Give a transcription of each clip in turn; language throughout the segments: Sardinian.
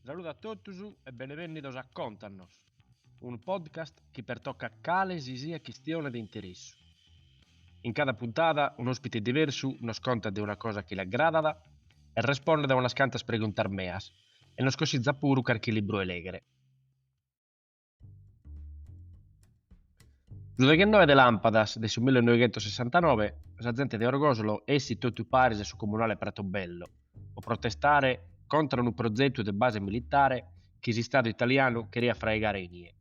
Saludo a totus e benevènnidos a Contanos, unu podcast chi pertocat cale si siat chistione de interessu. In cada puntada un'òspite diversu nos contat de una cosa chi l'agradat e respondet a unas cantas preguntas meas e nos cossizat puru carchi libru 'e lègere. Su deghenoe de làmpadas de su millenoighentossessantanove sa zente de Orgosolo essit totu paris a su comunale Pratobello po protestare contra unu prozetu de base militare chi s'Istadu italianu cheriat fraigare inie.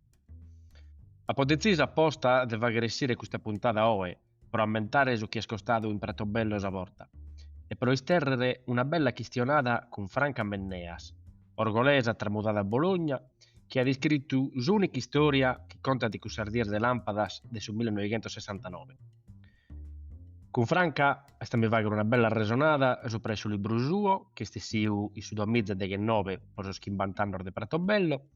Apo detzisu aposta de fàghere essire custa puntada oe pro ammentare su chi est istadu in Pratobello sa borta e pro istèrrere una bella chistionada cun Franca Menneas, orgolesa tramudada a Bologna, chi at iscritu s'ùnica istòria chi contat cussas dies de làmpadas de su millenoighentossessantanobe. Cun Franca amus a fàghere una bella arresonada subra a su libru suo, chi est essidu in su duamiza deghenobe pro sos chimbant'annos de Prato Bello.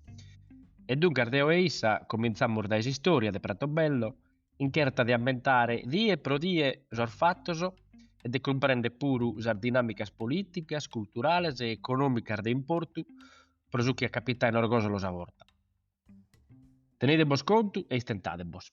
E duncas deo e issa comintzamos dae s'istòria de Prato Bello in cherta de ammentare die pro die sos fatos e de cumprender puru sas dinàmicas polìticas, culturales e econòmicas de importu pro su chi at capitadu in Orgosolo sa borta. Tenidebos contu e istentadebos.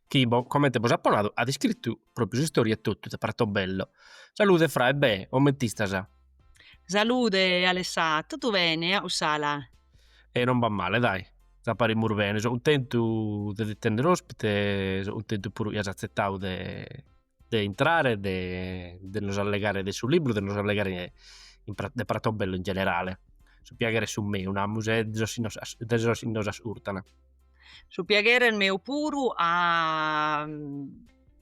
chi, comente bos apo nadu, at iscritu propriu s'istòria etotu de Prato Bello. Salude Fra, e be', coment'istas? Salude Alessà, totu bene, e Ussala? E non b'at male, dai, si parimus bene, so cuntentu de ti tennere òspite, so cuntentu puru chi as atzetadu de de intrare de de nos allegare de su libru de nos allegare in pra de Prato Bello in generale su piaghere est su meu namus e de sos chi nos de sos chi nos ascurtan su piaghere est meu puru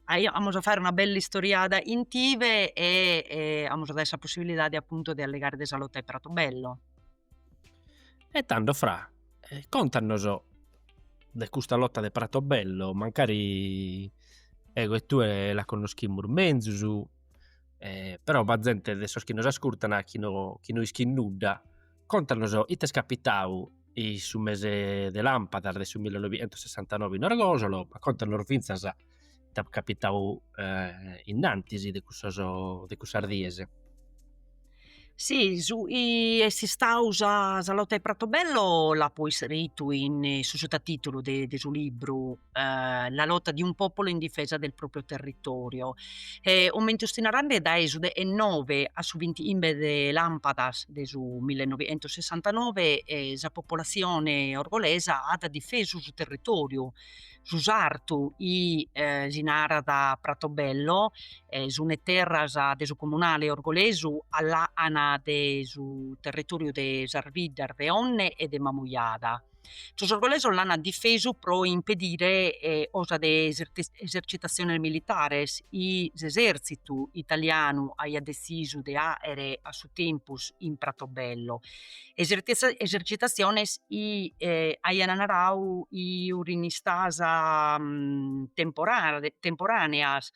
amus a fagher una bella istoriada chin tive e amus a dare sa possibilidade appunto de allegare de sa lotta 'e Prato Bello E tando Fra, contanos de custa lotta de Pratobello, mancari ego e tue la connoschimus menzus, però b'at zente de sos chi nos ascurtan chi no chi no ischit nudda, contanos it'est capitadu in su mese de lampadas de su millenovichentosessantanove in Orgosolo, ma contanos fintzas ite at capitau innantis de cussos de cussas dies. Si su chi est istau sa sa lotta 'e Pratobello l'apo iscritu in su sutatitulu de de su libru la lotta di un popolo in difesa del proprio territorio e comente 'ustis narande dae su dechenove a su vintichimbe de lampadas de su millenovichentosessantanove sa popolazione orgolesa at difesu su territoriu su sartu chi si narat Pratobello, sunt terras de su comunale orgolesu a làcana de su territòriu de sas biddas de Onne e de Mamujada. Sos orgolesos l'ant difesu pro impedire cosa de esercitatziones militares chi s'esèrtzitu italianu aiat detzisu de fàghere a su tempus in Pratobello esercitatziones chi aian naradu chi furin istadas temporàneas,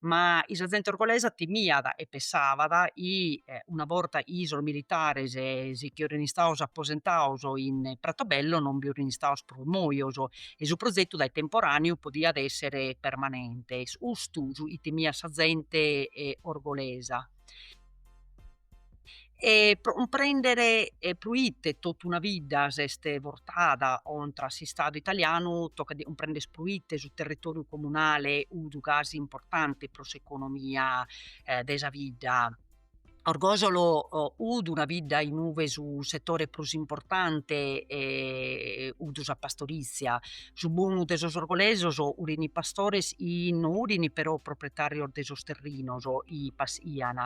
ma chi sa zente orgolesa timiat e pensabat chi una borta chi sos militares si nche furin istados aposentados in Pratobello non bi furin istados prus mojos e su prozetu dae temporàneu podiat èssere permanente. Custu est su chi timiat sa zente orgolesa E pro cumprèndere proite totu una bidda s'est bortada contra s'Istadu italianu tocat de cumprèndere proite su territòriu comunale fut gasi importante pro s'economia de sa bidda. Orgosolo fut una bidda in ue su setore prus importante fut sa pastorizia. Su bonu de sos orgolesos furent pastores chi no furent però proprietàrios de sos terrinos chi paschiant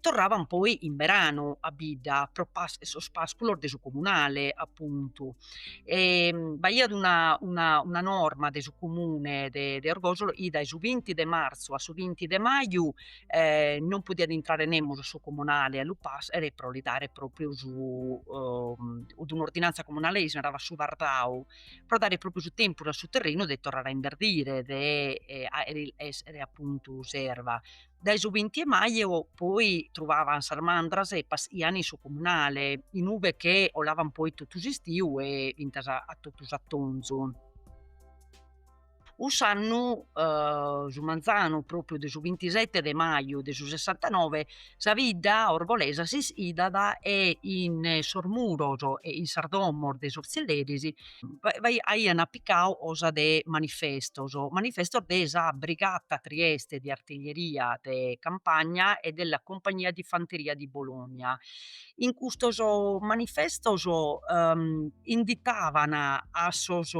torravan poi in beranu a bidda pro sos pasculos de su comunale appuntu e b'aiat una una una norma de su comune de de Orgosolo chi dae su vinti de marzu a su vinti de maju non podiat intrare nemus a su comunale a lu pascher pro li dare propriu su fut un'ordinanza comunale chi si naravat su vardau pro dare propriu su tempus a su terrenu de torrare a inverdire de essere appuntu s'erva Dae su binti 'e maju poi truvavan sas mandras e paschian in su comunale, in ue che 'olavan poi totu s'istiu e fintzas a totu s'atonzu. Cuss'annu su manzanu propriu de su bintisette de maju de su sessantanove sa bidda orgolesa s'ischidat e in sos muros e in sas domos de sos zilleris aian apicau cosa de manifestos, manifestos de sa Brigata Trieste de Artiglieria de Campagna e della Compagnia di Fanteria di Bologna. In custos manifestos inditavan a sos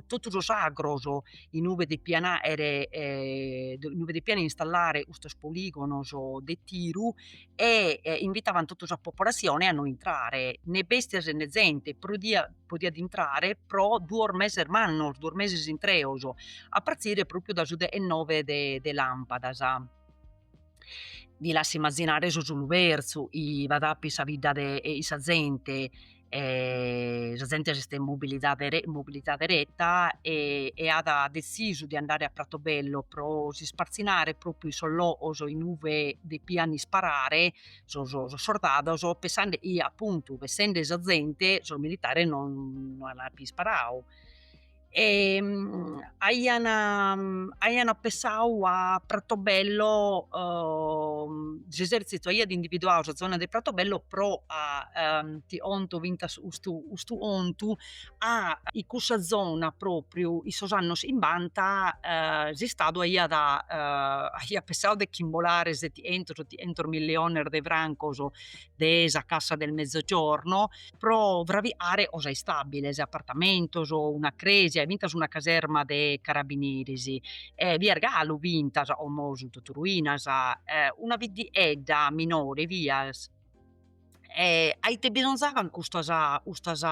totu sos agros in uve depian aer in uve depian installare custos poligonos de tiru e invitavan totu sa popolatzione a no intrare, ne bestias e ne zente, podiat intrare pro duos meses mannos, duos meses intreos, a partire propriu da su deghenove de lampadas. Vi lassu imazinare su sulu pertzu, 'i b'at àpiu in sa bidda de sa zente e sa zente s'est mobilitada ereta e e at dezisu de andare a Pratobello pro si ispartzinare propriu in sos logos in uve depian isparare sos sos sordados pessande chi appuntu essende sa zente sos militares non non an àpiu isparau e aian aian pensau a Pratobello s'esertzitu aiat individuau sa zona de Pratobello pro a ti 'onto fintas custu custu 'ontu a in cussa zona propriu in sos annos 'imbanta s'istadu aiat aiat pensau de ch'imbolare setientos ottientos milliones de francos de sa Cassa del Mezzogiorno pro fraviare cosa istabiles, apartamentos, una crèsia e fintas una caserma de carabineris. Bi est galu fintas, como sunt totu ruinas, una biddiedda minore fiat e a ite bisonzaban custas custas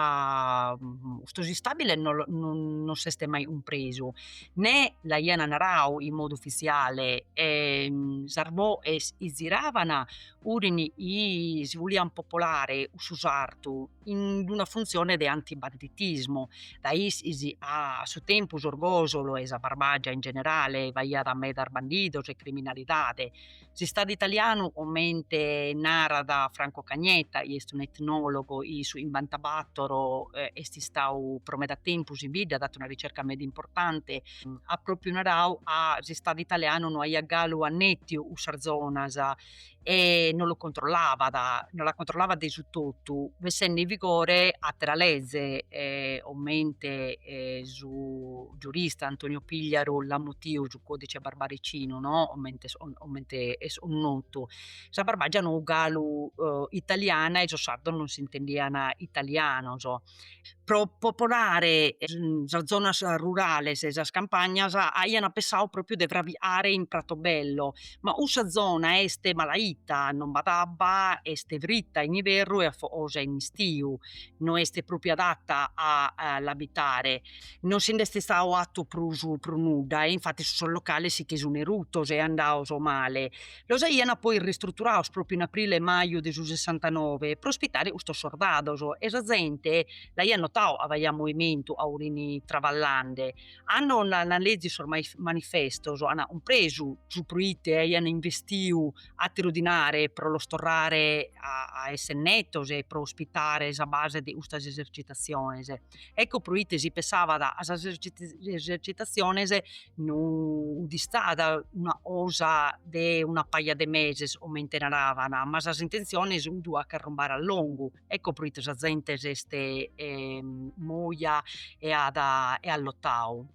custos istabiles no no s'est mai cumpresu, nè l'aian narau in modu ufitziale e sas boes 'i ziraban furin 'i si voliant popolare cussu sartu in d'una funtzione de antibanditismu, dae issis a su tempus Orgosolo e sa Barbàgia in generale b'aiat medas bandidos e criminalidade. S'Istadu italianu, comente narat Franco Cagnetta, chi est un'etnòlogu chi in su 'imbanta-bàtoro est istau pro meda tempus in bidda, at fatu una ricerca meda importante, at pròpiu narau 'a s'Istadu italianu no aiat galu annetiu cussas zonas e non lu controllavat, non la controllavat de su totu essende in vigore atera leze e comente su giurista Antonio Pigliaru l'at mutiu su codice barbaricinu no comente comente est notu. Sa barbàgia no galu italiana e sos sardos non s'intendian italianos pro popolare sas zonas rurales e sas campagnas aian pensadu propriu de fraviare in Pratobello, ma cussa zona est malaita, non b'at abba, est fritta in iberru e afogosa in istiu, no est propriu adatta a l'abitare. Non si nd'est istadu 'attu prus prus nudda e infattis sos locales si che sun erutos e andados male. Los aiant poi ristruturados pròpiu in aprile e maju de su Sessantanove pro ospitare custos sordados e sa zente l'aiat notadu ca b'aiat movimentu ca 'urin traballende. Cando ant lèzidu sos manifestos ant cumpresu su proite aiant investiu àteru dinare pro los torrare a èssere netos e pro ospitare sa base de custas esercitatziones. Ecco pro ite si pessavat ca sas esercitatziones no 'ut istada una cosa de una paja de meses comente naravan, ma sas intentziones 'ut a ch'arrumbare a longu, ecco pro ite sa zente s'est moja e at e at lotadu.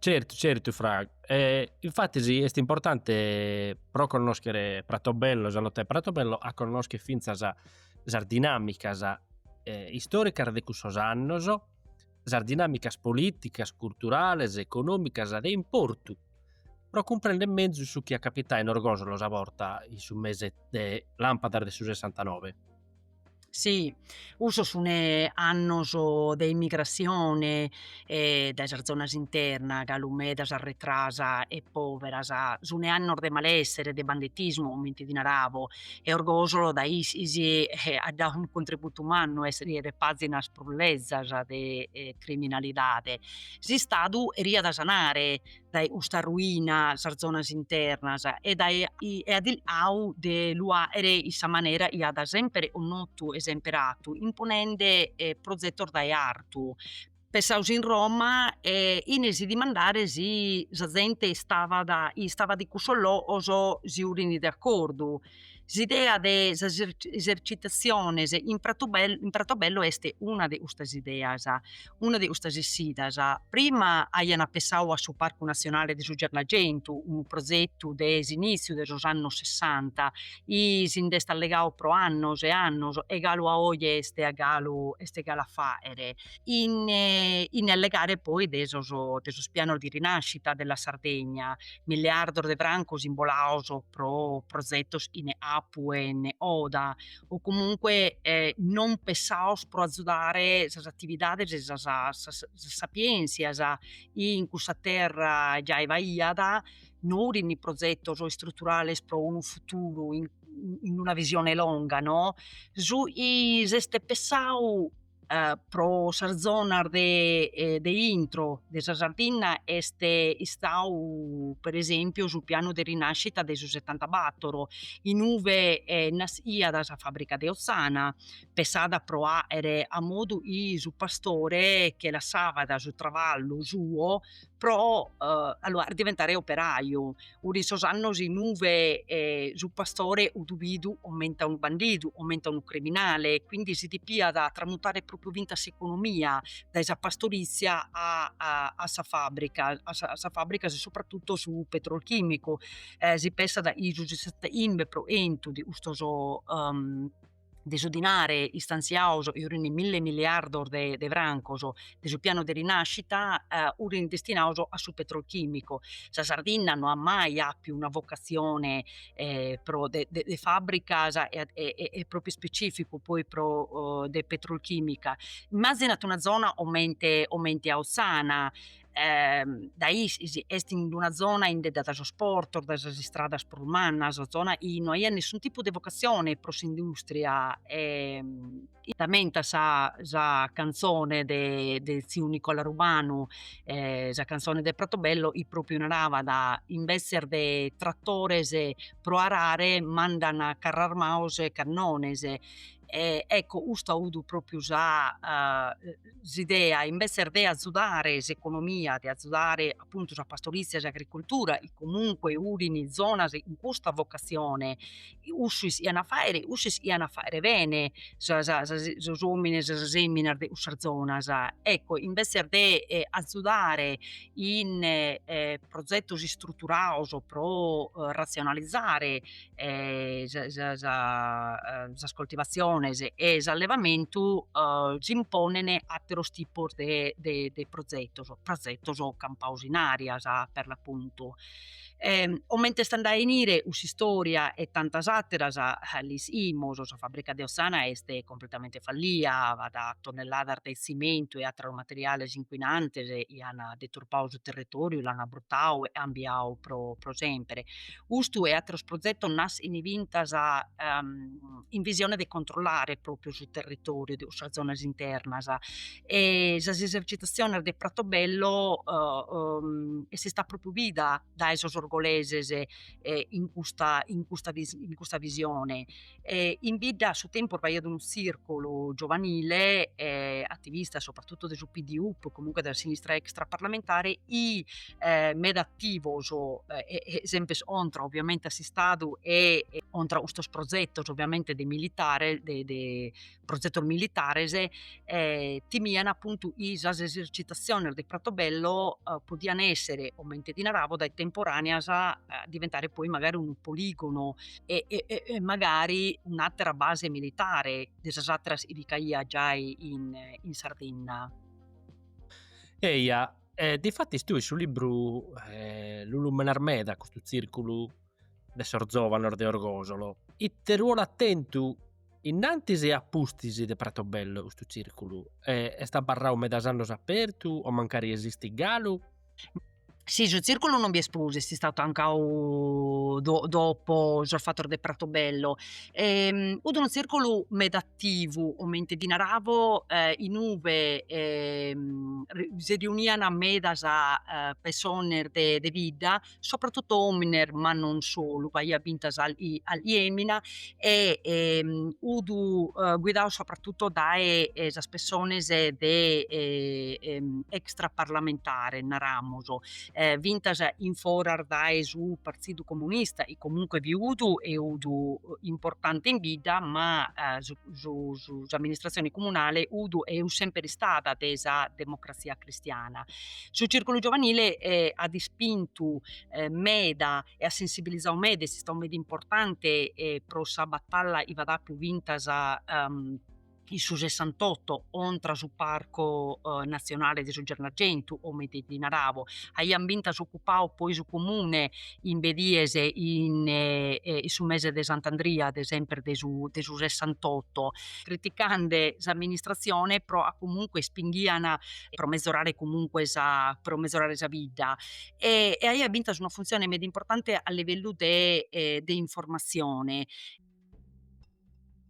Certu certu Fra, e infatis est importante pro connoschere Pratobello e sa lotta 'e Pratobello a connoschere finzas sas dinamicas istoricas de cussos annos, sas dinamicas politicas, culturales, economicas de importu pro cumprender mezus su chi at capitau in Orgosolo sa borta in su mese de lampadas de su sessantanove. Si, cussos sun annos de immigratzione dae sas zonas internas, galu medas arretras e poveras, sun annos de malessere, de banditismu comente ti naravo e Orgosolo dae issos at dadu unu contributu mannu a iscriere pazinas prus lezas de criminalidade. S'istadu 'eriat a sanare dae custa ruina sas zonas internas e dae e at chircau de lu fàghere in sa manera chi at semper connotu e semper 'atu, imponende prozetos dae artu, pessados in Roma e chene si dimandare si sa zente istavat istavat in cussos logos si 'urin de accordu S'idea de sas esercitatziones in Pratobello, in Pratobello est una de custas ideas, una de custas essidas. Prima aian pensadu a su Parcu Natzionale de su Gennargentu, unu prozetu de s'inìtziu de sos annos sessanta, chi si nd'est allegadu pro annos e annos e galu a oe est a galu est a galu a fàghere, chene allegare poi de sos de sos pianos di rinascita della Sardegna, miliardos de francos imbolados pro prozetos chene capu e chene coda o comunque non pessados pro azudare sas atividades e sas sas sapientzias chi in cussa terra giai b'aiat, no 'urin prozetos istruturales pro unu futuru in in una visione longa no su is est pessadu pro sas zonas de e de intro de sa Sardinna est istadu per esempiu su pianu de rinascita de su setantabator inue naschìat sa fabbrica de Ozzana pensada pro 'aer a modu 'i su pastore che lassabat su traballu suo pro allora diventare operaju, 'urin sos annos inue su pastore 'udu bidu comente a unu bandidu, comente a unu criminale, quindi si depiat tramutare propriu finzas s'economia dae sa pastorizia a a sa fabbrica, a sa fabbrica e soprattutto su petrolchimico, si pensat chi su sessanta'imbe pro 'entu de custos de su dinare istanziados 'i 'urin mille miliardos de de francos de su piano de rinascita furin destinados a su petrolchimico. Sa Sardinna no at mai apiu una vocatzione pro de de fabbricas e propriu specificu poi pro de petrolchimica, immazzinat una zona comente comente a Ozzana dae is est in una zona indedda dae sos portos, dae sas istradas prus mannas, zona chi no aiat nessun tipu de vocatzione pro s'industria e t'ammentat sa sa cantzone de de tziu Nicola Rubanu e sa cantzone de Pratobello chi propriu naràat imbetzes de trattores pro arare mandan carrarmaos e cannones e ecco custa 'udu propriu sa s'idea imbesser de azudare s'economia de azudare appuntu sa pastorizia sa agricultura 'i comunque 'urin zonas 'in custa vocazione 'ussu is'ian a faere 'ussu is'ian a faere bene sa sa sos omines sas feminas de cussas zonas ecco imbesser de azudare in progettos istrutturados pro razionalizare e sas coltivaziones e s'allevamentu s'imponen atteros tipos de de prozetos, prozetos campados in arias per l'appuntu e comente est andada a 'inire cussa istoria e tantas atteras l'is'imos, sa fabbrica de Ozzana est completamente fallia b'at tonnelladas de tzimentu e atteros materiales inquinantes chi an deturpadu su territoriu, l'an abbruttadu e 'ambiadu pro sempre. Custu e ateros progetos nas'in fintas in visione de controllare propriu su territoriu de cussas zonas internas e sas esercitaziones de Pratobello est istada propriu bida dae sos orgoleses in custa visione E in bidda a su tempus b'aiat unu tzìrculu giovanile e ativista soprattutto de su PDUP, comunque de sa sinistra extraparlamentare, i e meda ativos e e semper contra ovviamente a s'Istadu e contra custos progetos ovviamente de militare de de progetos militares e timian apuntu chi sas esercitatziones de Pratobello podian essere, comente ti narabo, dae temporàneas diventare poi magari unu poligono e magari un'àtera base militare de sas àteras chi bi ch'aiat giai in Sardinna. Eja, difatis tue in su libru lu lumenas meda custu tzìrculu de sos zòvanos de Orgosolo, ite ruolu at tentu Innantis e a pustis de Pratobello custu circulu est abarrau medas annos apertu o mancari esistit galu? Si su circulu non bi est prus, est istau tancau dopo sos fatos de Pratobello. Fut unu circulu meda attivu comente ti naravo inube si riuniana medas pessones de bidda soprattutto omines ma non solu b'aiat fintas calchi femina e fut guidau soprattutto dae sas pessones de extra parlamentare naramus fintas in foras dae su partidu comunista e comunque fiut e fut importante in bidda ma su s'amministratzione comunale fut est semper istada de sa democrazia cristiana. Su circulu giovanile eh, at ispintu eh, meda e at sensibilizau meda, est istau meda importante eh, pro sa batalla chi b'at àpiu fintas um, in su Sessantotto contra su Parco eh, Nazionale de su Gennargentu, comente ti narabo. Aian fintas ocupau poi su comune chimbe dies in su mese de Sant'Andria de semper de su de su sessantotto, criticande s'amministratzione pro a comunque ispinghian pro mezorare comunque sa pro mezorare sa bidda e e aiat fintas una funtzione meda importante a livellu de de informatzione.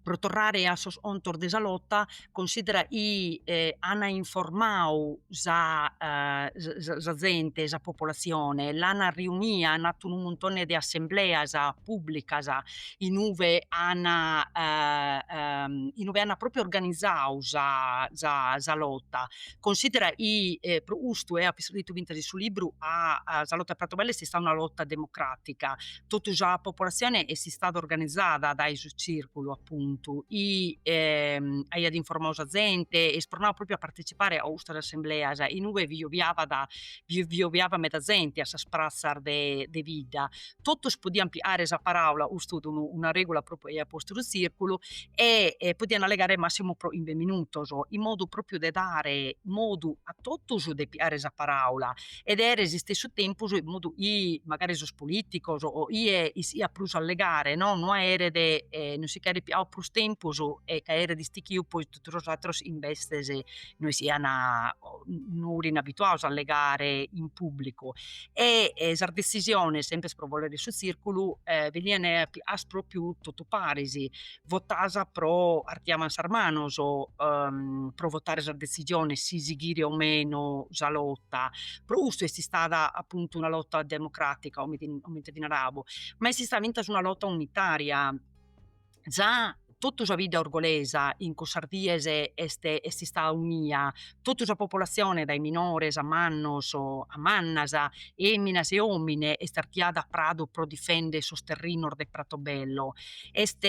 Pro torrare a sos contos de sa lota, considera chi an informau sa sa zente, sa popolatzione, l'an riunia, an fatu unu muntone de assembleas pùblicas in ue an in ue an pròpriu organizau sa sa sa lota, considera chi pro custu, eo apo iscritu fintas in su libru, ca sa lota 'e Pratobello est istada una lota democràtica, totu sa popolatzione est istada organizada dae su circulu appuntu chi aiat informau sa zente e ispronau propriu a partecipare a custas assembleas in ue vi obiavat vi obiavat meda zente a sas pratzas de de bidda, totus podian piare sa paraula, custu fut unu una regula propriu chi aiat postu su circulu e podian allegare massimu pro chimbe minutos in modu propriu de dare modu a totus de piare sa paraula e de aere s'istessu tempus in modu chi magari sos politicos o chie ischiat prus allegare no no aeret no si ch'aeret pigau prus tempus e ca aeret istichiu poi totu sos ateros imbetzes no ischian o no furint abituados a allegare in publicu e sas decisiones, sempre pro bolere de su tzirculu, benian as propriu totu paris votas pro artiavan sas manos pro votare sa detzisione si sighire o meno sa lota, pro custu est istada apuntu una lota democràtica, comente ti narabo, ma est istada fintzas una lota unitària, già totu sa bidda orgolesa in cussas dies est istada unia totu sa popolatzione, dae minores a mannos a mannas, èminas e òmine, est artiada a Pradu pro difèndere sos terrinos de Pratobello. Est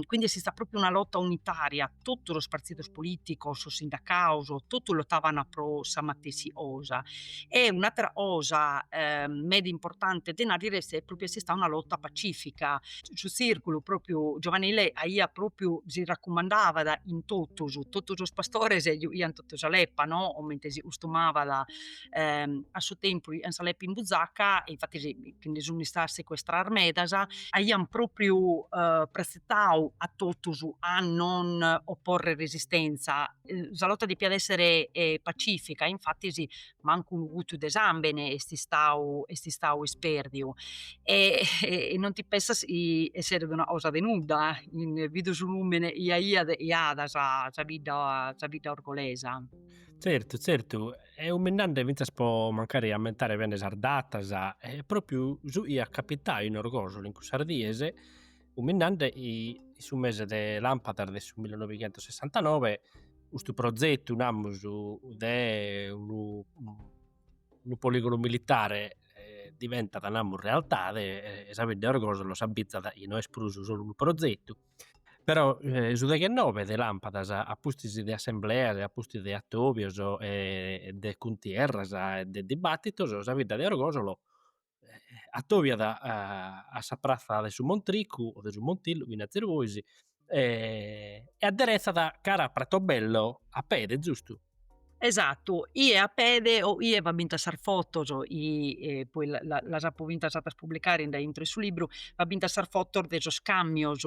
quindi est istada pròpriu una lota unitària, totu sos partzidos polìticos, sos sindacados, totu lotavant pro sa matessi cosa. E un'àtera cosa meda importante de nàrrere est pròpriu chi est istada una lota pacìfica, su tzirculu propriu giovanile aia propriu si racumandavat chin totus, totus sos pastores juchiant totu sa leppa no, comente si custumavat a su tempus juchiant sa leppa in buzaca e infatis che nde sun istadas secuestradas medas, aiant propriu pretzetau a totus a non oporrer resistenza. sa lotta depiat essere pacifica e infattis mancu unu gutu de sambene est istau est istau ispèrdiu e non ti pensas chi esseret una cosa de nudda, bidu su nùmene chi aiat chi at sa sa bidda sa bidda orgolesa. Zertu zertu e cuminzande finzas po mancari ammentare bene sas datas e propriu su chi at capitau in Orgosolo in cussas dies Cuminzande in su mese de lampadas de su millenoighentosessantanove custu prozetu, namus, de unu unu poligonu militare diventat, namus, realtade e sa bidda 'e Orgosolo s'abbitzat chi no est prus solu unu prozetu, però su deghennove de lampadas a pustis de assembleas e a pustis de atobios e de cuntierras e de dibattitos sa bidda de Orgosolo atobiat a sa pratza de su Montricu, de su Montillu chi nazes bois, e aderetzat cara a Pratobello a pede, giustu? Esatu, chie a pede o chie b'at bintas sas fotos, poi las apo bintas fatas publicare in daintro in su libru, b'at bintas sas fotos de sos camios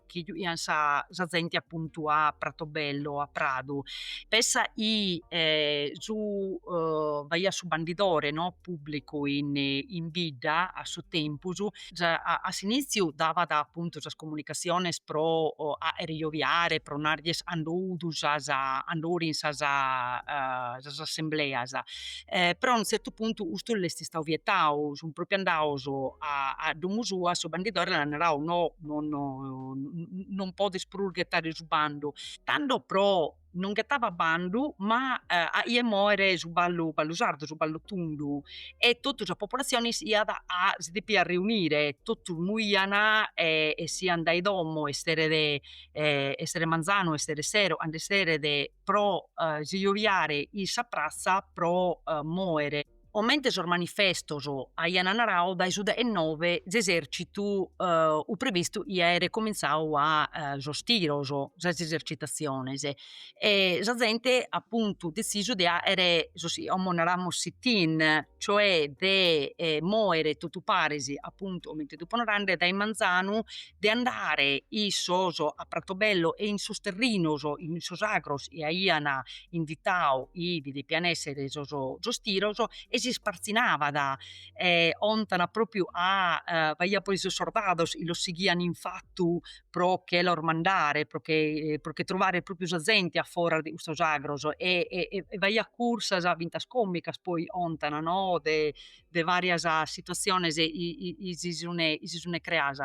chi juchian sa, sa zente appuntu a Pratobello, a Pradu, pessa chi eh, su, uh, b'aiat su bandidore no? pubblicu in, in bidda a su tempus, a, a s'iniziu davat appuntu sas comunicatziones pro fachere joviare, pro narrere cando fudi sas, cando furin sas, uh, sas assembleas, Però a unu tzertu puntu custu l'est istau vietau, sunt propriu andaus a domu sua, su bandidore l'an narau, no non podes prus ghetare su bandu, tando pro non ghetaba bandu ma aiat moere su ballu ballu sardu, su ballu tundu e totu sa populatzione iat a si depiat riunire, totus moian e essian dae domo esseret esseret manzanu, esseret sero, cando esseret pro si jobiare in sa pratza pro moere. Comente sos manifestos aian narau dae su deghenove s'esercitu ut previstu chi aeret comintzau a sos tiros sas esercitatziones e sa zente apuntu detzisu de aere sos chi como naramus sit-in cioè de eh, moere totu paris, apuntu comente t'upo narande, dae manzanu, de andare issos a Pratobello e in sos terrinos, in sos agros chi aian inditau chi bi depian èssere sos tiros e s'ispartzinabat, e 'ontana pròpriu ca b'aiat poi sos sordados chi los sighian in fatu pro che los mandare, pro che pro che truvare pròpriu sa zente a foras de custos agros e e e e b'aiat cursas, fintas comicas poi ontan no de de varias situatziones chi si sune chi si sune creas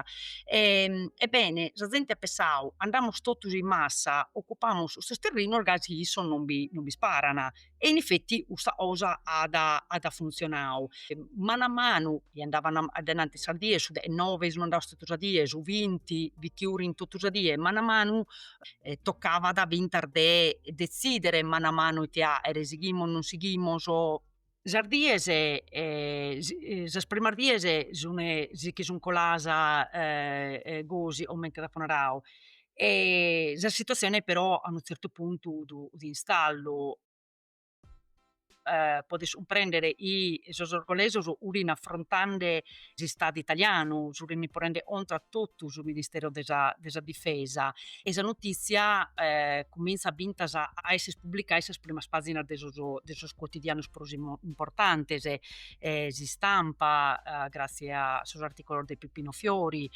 e ebbene sa zente at pensau andamus totus in massa occupamus sos terrinos gasi chi issos non bi non bi sparan e in effetti custa cosa at at funtzionau, manu a manu chi andavant a denanti sas dies, su deghenove sun andaus totu sa die, su vinti fit chi urint totu sa die, manu a manu toccavat a fintas de detzidere manu a manu ite aere, sighimus non sighimus, sas dies sas primas dies si che sun colas gosi comente t'apo narau e sa situatzione però a unu tzertu puntu ut in stallu, podes cumprendere chi sos orgolesos furint afrontande s'istadu italianu, si furint ponende contra a totu su ministero de sa de sa difesa e sa notìtzia cumintzat fintzas a esser pubblicada in sas primas pàginas de sos de sos cuotidianos prus importantes, S'Istampa gratzias a sos artìculos de Peppino Fiori,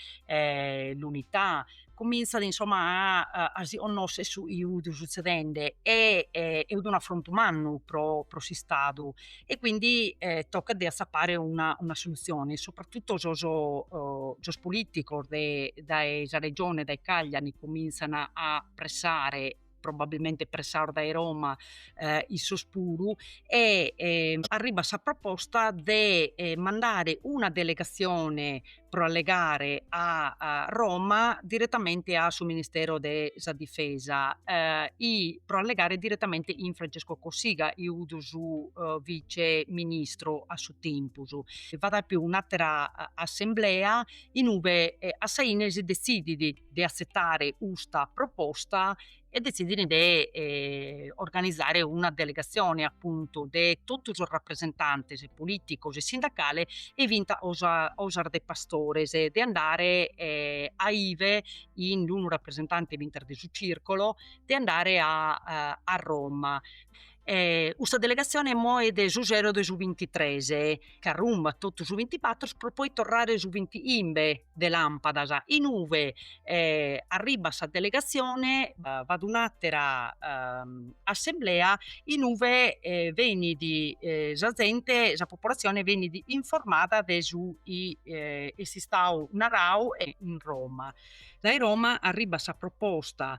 L'Unità cumintzat insomma a si connoscher su chi ut sutzedende e ut unu afrontu mannu pro s'istadu e quindi tocat de atzapare una solutzione, soprattutto sos politicos dae sa regione dae Cagliari comintzan a pressare probabilmente pressados dae Roma eh, issos puru, e eh, arribat sa proposta de eh, mandare una delegazione pro allegare a, a, Roma direttamente a su Ministero de sa Difesa eh, pro allegare direttamente 'in Francesco Cossiga, 'i 'udi su eh, vice ministro a su tempus. B'at àppiu un'attera eh, assemblea inube eh, a sa ine si decidit de atzetare custa proposta e detzidint de organizare una delegatzione apuntu de totu sos rapresentantes politicos e sindacales e fintzas sos de pastores de andare a ive 'in unu rapresentante fintzas de su circolo de andare a Roma E custa delegatzione moet su sero de su bintitres e ch'arrumbat totu su bintibatro pro poi torrare su bint'imbe de lampadas, inube arribbat sa delegatzione b'at un'atera assemblea inube benit sa zente, sa popolatzione benit informada de su chi est istau narau in Roma, dae Roma arribbat sa proposta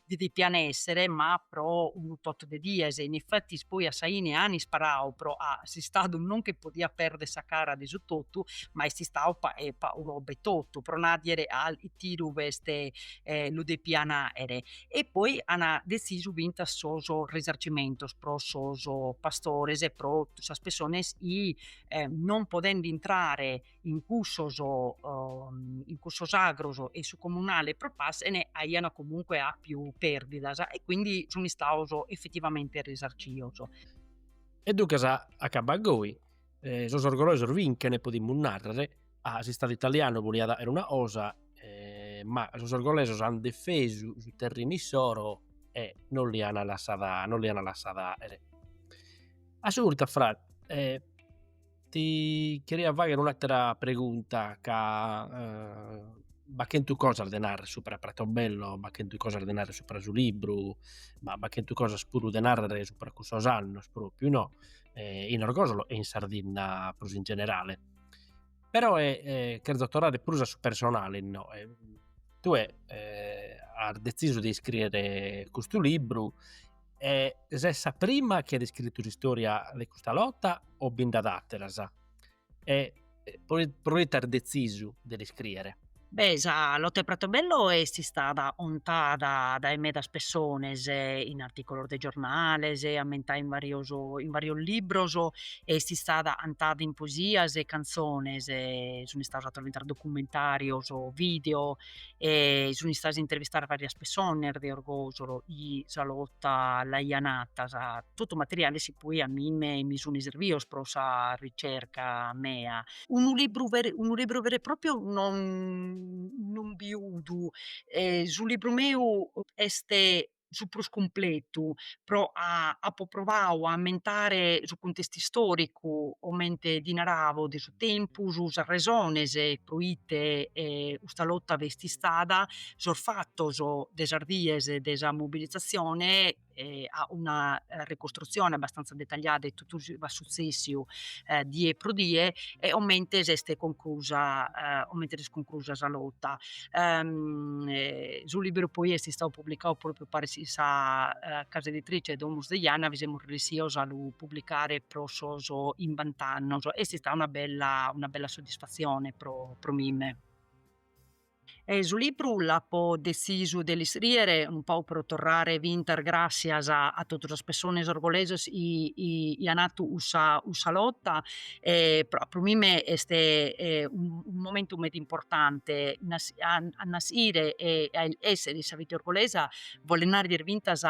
di depian èssere, ma pro unu tot de dies, e in efetis poi a sa 'ine an isparau pro'a s'istadu non che podiat pèrdere sa cara de su totu, ma est istau pa'u roba e totu, pro nàdire a tiru b'est lu depian 'àere, e poi an detzisu fintzas sos risarcimentos pro sos pastores e pro totu sas pessones chi non potend'intrare in cussos, in cussos agros e su comunale e pro passer aian comunque appiu perdidas e quindi sun istados effettivamente risarcios. E duncas acabbat goi, sos orgolesos vinchene podimus narrer, s'istadu italianu voliat 'aer una cosa ma sos orgolesos an defesu su terrinu issoro e non li an lassada 'aer Ti cheria fagher un'atera pregunta ca b'at chentu cosas de narrer supra Pratobello, b'at chentu cosas de narrer supra su libru, ma b'at chentu cosas puru de narrer supra cussos annos propriu no, in Orgosolo e in Sardinna prus in generale. Però cherzo torrare prus a su personale no, tue as detzisu de iscriere custu libru E ses sa prima chi at iscritu s'istòria de custa lota o bi nd'at àteras? E proite as detzisu de l'iscrìere? Beh, sa lota 'e Pratobello est istada contada dae medas pessones in artìculos de giornales, ammentada in varios in varios libros e est istada cantada in poesias e cantzones, sunt istados 'atos fintzas documentàrios o video e sun istadas intervistadas varias pessones de Orgosolo chi sa lota l'aian atas, totu materiale chi poi a mime mi sun serbios pro sa ricerca mea. Unu libru vere unu libru vere e propriu non non biudu, su libru meu est su prus cumpletu, pro ca apo provau a ammentare su cuntestu istoricu, comente ti naravo, de su tempus, sas resones pro ite custa lotta b'est istada, sos fattos de sas dies de sa mobilizzazione e a una ricostruzione abbastanza dettagliada 'e tottu su chi b'at suzzessiu die pro die e comente s'est conclusa comente s'est conclusa sa lotta. ehm, eh, su libru poi est istau publicau propriu paris chin sa eh, casa editrice Domus de Janas bi semus ressios a lu publicare pro sos chimbant'annos, est istau una bella, una bella soddisfazione pro, pro mime. E su libru l'apo dezisu de l'iscriere un pau pro torrare fintas grassias a, a totu sas pessones orgolesas chi, chi, chi an hatu cussa, cussa lotta pro mime est unu momentu meda importante a nasire e a essere in sa vita orgolesa bolet narrer chi fintas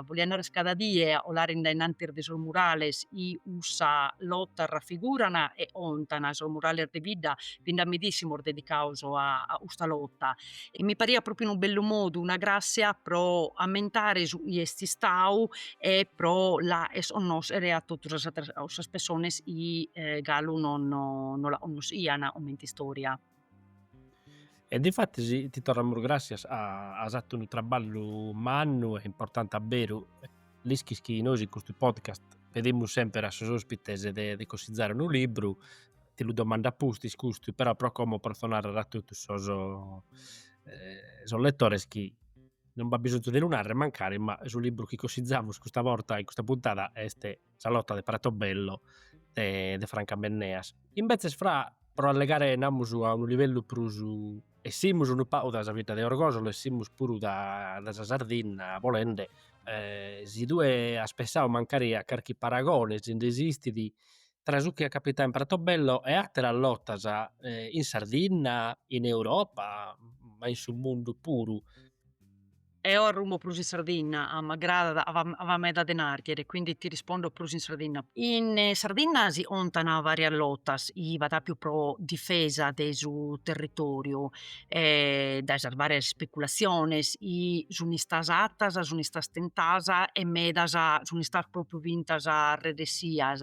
bolia narrer cada die colare in dae innantis de sos murales chi cussa lotta raffiguran e 'ontan sos murales de bidda bi nd'at medissimos dedicados a custa lotta e mi pariat propriu unu bellu modu, una gràssia pro ammentare su chi est istadu e pro l'acher connoscher a totu sas a totu sas pessones chi galu non non la connoschian comente istoria. E difattis ti torramus gràssias as fatu unu traballu mannu e importante a beru, l'ischis chi nois in custu podcast pedimus semper a sos ospites de de cosizare unu libru, ti lu domando a pustis custu, però pro como potzo narrer a totu sos sos lettores chi non b'at bisonzu de lu narrer mancari, ma su libru chi cosizamus custa borta in custa puntada est Sa lotta de Pratobello de de Franca Menneas. Imbetzes Fra, pro allegare namus a unu livellu prus, 'essimus unu pagu dae sa bidda de Orgosolo, 'essimus puru da sa Sardinna bolende, si tue as pessau mancari a carchi paragone, si nd'esistit, tra su chi at capitau in Pratobello e àteras lotas in Sardinna, in Europa ma in su mundu puru. Eo arrumo prus in Sardinna, ca m'agradat, ca b'at meda de nàrghere, quindi ti rispondo prus in Sardinna. In Sardinna si contant varias lotas, chi b'at àpiu pro difesa de su territoriu dae sas varias ispeculatziones, chi sun istas atas, sun istas tentas e medas sun istas propriu fintas resessias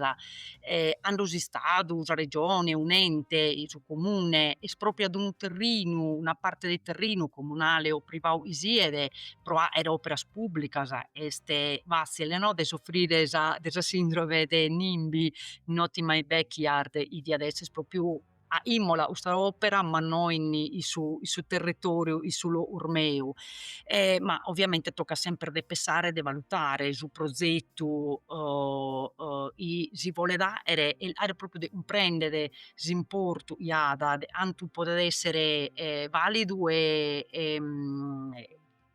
e cando s'istadu, sa regione, un'ente, su comune espropriat unu terrinu, una parte de terrinu comunale o privadu chi siet pro fagher operas publicas est fazzile no de soffrire de sa sindrome de NIMBY, not in my backyard, chi diat esser propriu aimola custa opera, ma no in su in su territoriu in su logu meu, e ma ovviamente toccat semper de pessare e de valutare su prozetu chi si bolet aere e aere propriu de cumprender s'importu chi at de cantu podet esser validu e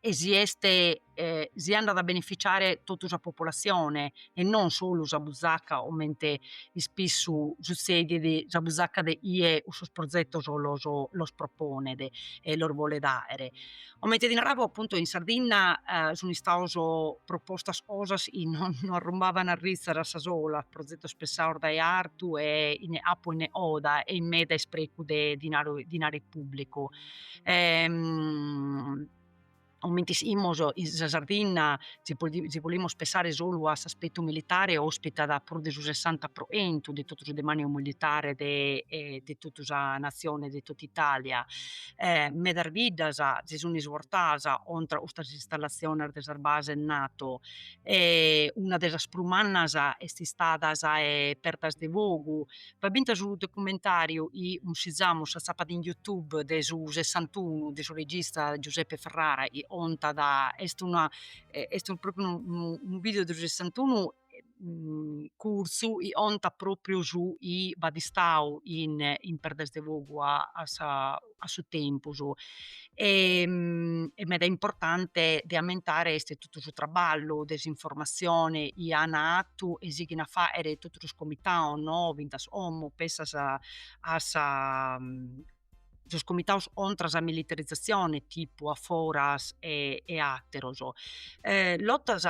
e si est si andat a beneficiare totu sa populatzione e non solu sa busacca comente ispissu sutzedet, sa busacca de chie cussos prozetos los los proponet e los bolet àere. Comente ti naravo appunto in Sardinna sun istados propostas cosas chi no no arrumbavan ritzas a sa sola, prozetos pensados dae artu e chene capu chene coda e chin meda isprecu de dinaro dinare pubblicu comente ischimus in sa Sardinna si si bolimus pensare solu a s'aspettu militare ospitat prus de su sessanta pro centu de totu su demaniu militare de de totu sa natzione e de totu Italia medas biddas si sun isbortadas contra custas installatziones de sas bases NATO e una de sas prus mannas est istada sa 'e Perdas de Fogu B'at fintas unu documentàriu chi cussizamus s'atzapat in Youtube de su Sessantunu de su regista Giuseppe Ferrara chi contat, est una est propriu unu unu video de su Sessantunu curtzu chi contat propriu su chi b'at istau in in Perdas de Fogu a sa a su tempus e est meda importante de ammentare est totu su traballu de s'informatzione chi an fatu e sighin a faghere totu sos comitados no fintas como pensas a sa sos comitados contra sa militarizzazione tipu A Foras e ateros lottas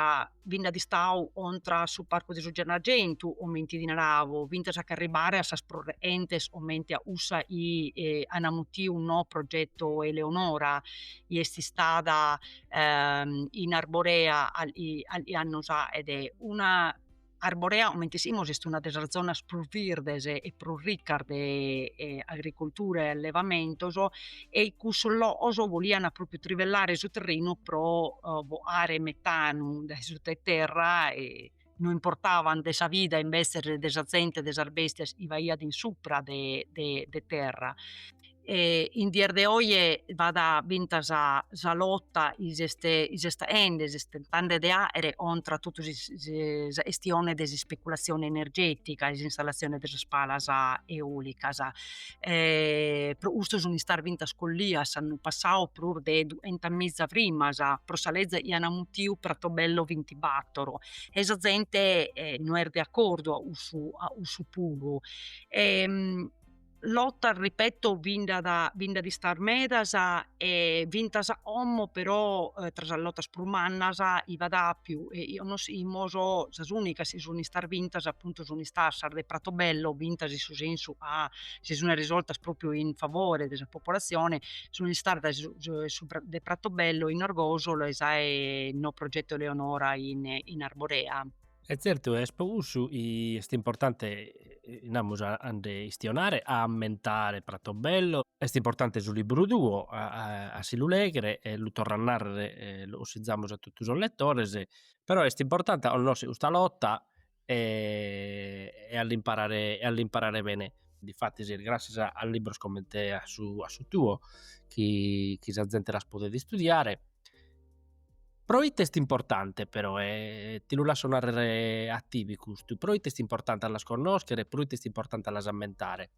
Bi nd'at istau contra su parcu de su Gennargentu, comente ti naravo, fintas a ch'arribare a sas prus rechentes, comente a cussa chi an amutiu no progetto Eleonora, chi est istada in Arborea calchi annos aet. Una, Arborea comente ischimus est una de sas zonas prus virdes e prus riccas de agricultura e allevamentos, e cussos loos bolian propriu trivellare su terrenu pro boare metanu dae suta 'e terra e no importavan de sa vida invetze de sa zente de sas bestias chi b'aiat in supra de de terra e in dies de oje b'at fintas sa lotta chi s'est aende s'est tentende de aere contra totu sa 'estione de s'ispeculatzione energetica e s'installazione de sas palas eolicas e pro custu sun istas fintas collias s'annu passau prus de duenta miza frimas pro sa leza chi ana mutiu Pratobello vintibattoro e sa zente no est de accordu a cussu a cussu puru e lottas ripeto bi nd'at bi nd'at istas medas e fintas a como però tra sas lotas prus mannas chi b'at apiu e chi connoschimos sas unicas chi sun istas bintas appuntu sun istas sas de Pratobello bintas in su sensu ca si sune risoltas propriu in favore de sa popolazione sun istas de Pratobello in Orgosolo e sa 'e no progetto Eleonora in Arborea. E tzertu est po cussu chi est importante, namus, a a nde istionare, a ammentare Pratobello. Est importante su libburu tuo a si lu lèghere e lu torru a nàrrere, lu consizamus a totu sos letores, però est importante a connoscher custa lota e a l'imparare e a l'imparare bene. Difatis est grascias a libburus comente a su a su tuo chi chi sa zente las podet istudiare Proite est importante però, e ti lu lasso narrere a tibi custu, proite est importante a las connoschere e proite est importante a las ammentare?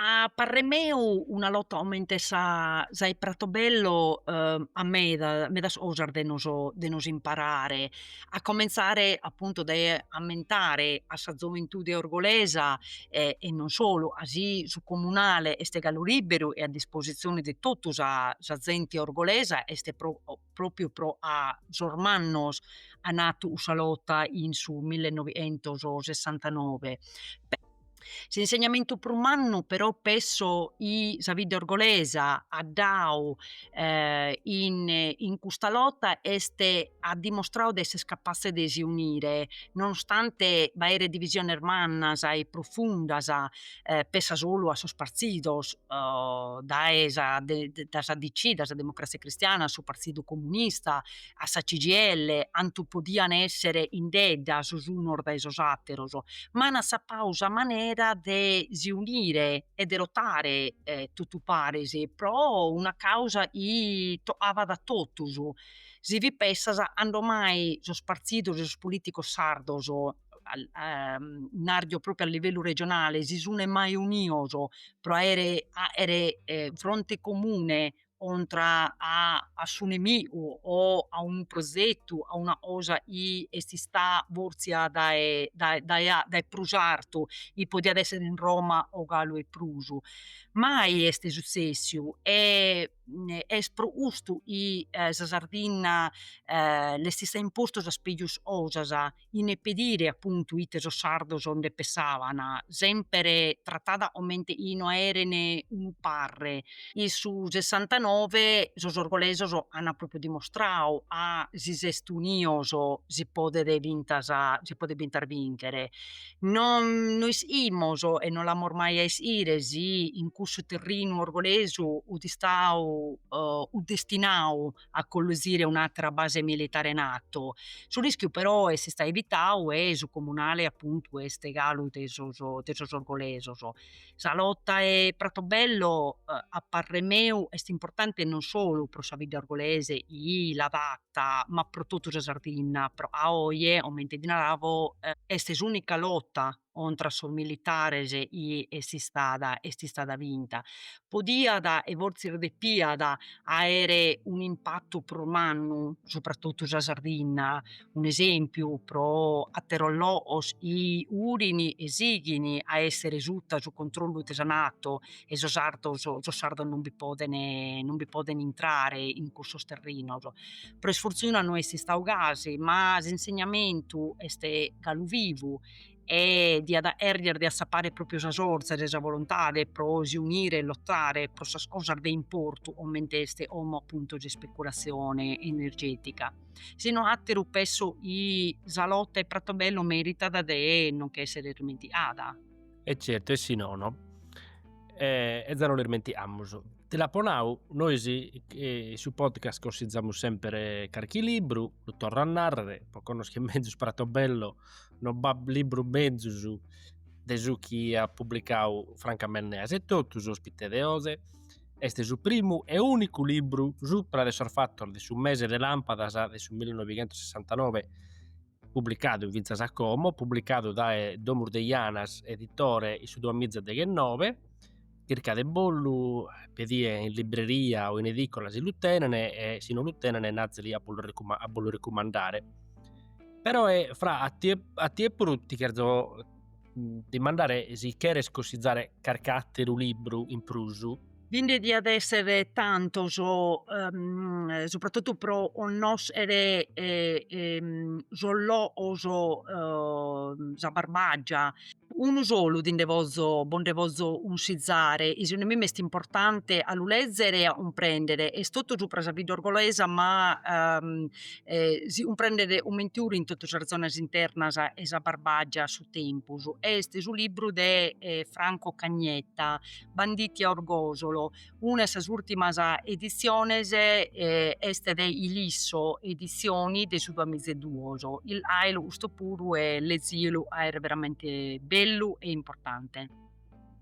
A parrer meu una lota comente sa sa 'e Pratobello at meda medas cosas de nos de nos imparare a comentzare apuntu dae ammentare a sa zoventude orgolesa e e non solu, ca si su comunale est galu liberu e a dispositzione de totu sa sa zente orgolesa est pro propriu pro ca sos mannos an atu sa lota in su millenoentossessantanoe S'insegnamentu prus mannu però pesso chi sa bidda orgolesa at dau in custa lota est at dimostrau de esser capatze de si unire nonostante b'aeret divisiones mannas e profundas pessa solu a sos partzidos dae sa DC, dae sa Democrazia Cristiana a su Partzidu Comunista a sa CGIL 'antu podiant èssere indedda sos unos dae sos àteros, ma ant assapau sa manera de si unire e de lotare totu paris pro una càusa chi tocavat a totus, si bi pensas 'ando mai sos partidos e sos polìticos sardos, narzio pròpriu a livellu regionale, si sunt mai unidos pro aere fronte comune contra a a su nemigu o a unu progetu, a una cosa chi est istada bòrzia dae dae dae a dae prus artu, chi podiat èssere in Roma o galu 'e prus, mai est sutzessiu e est pro custu chi sa Sardinna l'est istau impostu sas pegus 'osas 'Ene pedire apuntu ite sos sardos nde pessàbant, semper tratada comente chi no aeren unu parre. In su sessantanove sos orgolesos ant pròpriu dimostradu ca si s'est unidos si podet fintas si podet fintas bìnchere. No no ischimus e no l'amus mai a ischire si in cussu terrinu orgolesu fut istadu o fut destinadu a collusire un'atra base militare NATO. Su rischiu però est istau evitau e su comunale appuntu est galu de sos de sos orgolesos. Sa lotta 'e Pratobello a parrer meu est importante non solu pro sa bidda orgolese chi l'at fatta ma pro totu sa Sardinna pro 'a oje, 'omente ti naravo, est s'unica lotta contra sos militares chi est istada est istada vinta, podiat e forsis depiat aere un'impatu prus mannu subra totu sa Sardinna, un'esempiu pro atteros logos chi furin e sighin a essere sutta su controllu de sa nato e sos sardos sos sardos non bi poden non bi poden intrare in cussos terrinos, pro isfortuna no est istadu gasi ma s'insegnamentu est galu vivu e diat 'èrghere de assappare pròpiu sas 'orzas e sa volontade pro si unire e lotare pro sas cosas de importu, comente est como appunto s'ispeculatzione energetica, si no àteru pesso chi sa lota 'e Pratobello meritat de non che essere irmentiada. E certu e si nono e e za no l'irmentiamus. Ti l'apo nau, nois in su podcast consizamus semper carchi libru, lu torro a narrer, pro connoscher mezus Pratobello no b'at libru mezus de su chi at publicau Franca Menneas etotu, s'ospite de oze, est su primu e ùnicu libru supra de sos fatos de su mese de làmpadas de su millinoighientosessantanove publicadu fintzas a como, publicadu dae Domus de Janas, editore in su duamiza deghennove. chirca de bollu pedie in libreria o in edicola si lu tenen e si no lu tenen nazili a bollu recumandare però Fra a tie puru ti cherzo dimandare si cheres cossizare carchi ateru libru in prusu. Bi nde diat essere tantos subrattotu pro connoschere sos loos sa Barbagia Unu solu ti nde pozo, bo nde pozo unsizare, e segundu mimme est importante a lu lezere e a cumprendere, est totu supra sa vida orgolesa ma si cumprendet cumente 'urit in totu sas zonas internas 'e sa Barbagia a su tempus, est su libru de Franco Cagnetta, Banditi a Orgosolo Una 'e sas ùrtimas editziones est de Ilisso editzioni de su duamiza e duos. Illaelu custu puru e lezielu 'a est veramente bellu e importante.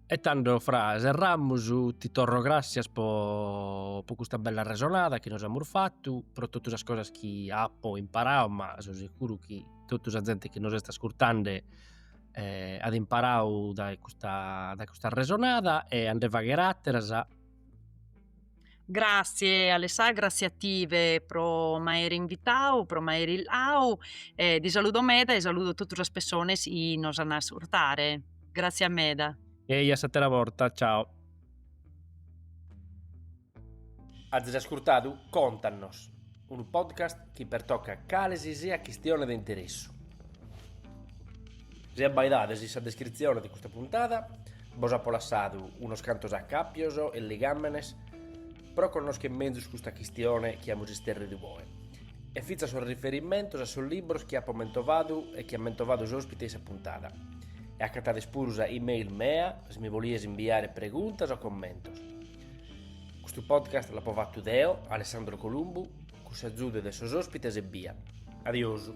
E tando Fra serramus ti torro grassias pro custa bella resonada chi nos amus fattu, pro tottu sas cosas chi apo imparau, ma so seguru chi tottu sa zente chi nos est ascurtande eh, at imparau dae custa, dae custa arresonada e a nde fagher àteras. Gràtzie Alessà, gràtzie a tive pro m'aere invitau, pro m'aere illau e ti saludo meda e saludo totu sas pessones chi nos an a ascurtare. Gràtzie meda. E a s'àtera borta, ciao. Azis ascurtadu Contannos, unu podcast chi pertocat cale si siat chistione de interessu. Si abbaidades in sa descritzione de custa puntada bos apo lassadu unos cantos acàpios e ligàmenes pro connoschere mezus custa chistione chi amus isterridu oe e fintzas sos riferimentos a sos libros chi apo mentovadu e chi at mentovadu s'òspite in sa puntada. E acatades puru sa e-mail mea si mi bolies imbiare preguntas o commentos. Custu podcast l'apo fattu deo, Alessandro Columbu, cun s'azudu de sos ospites ebbia. Adiosu.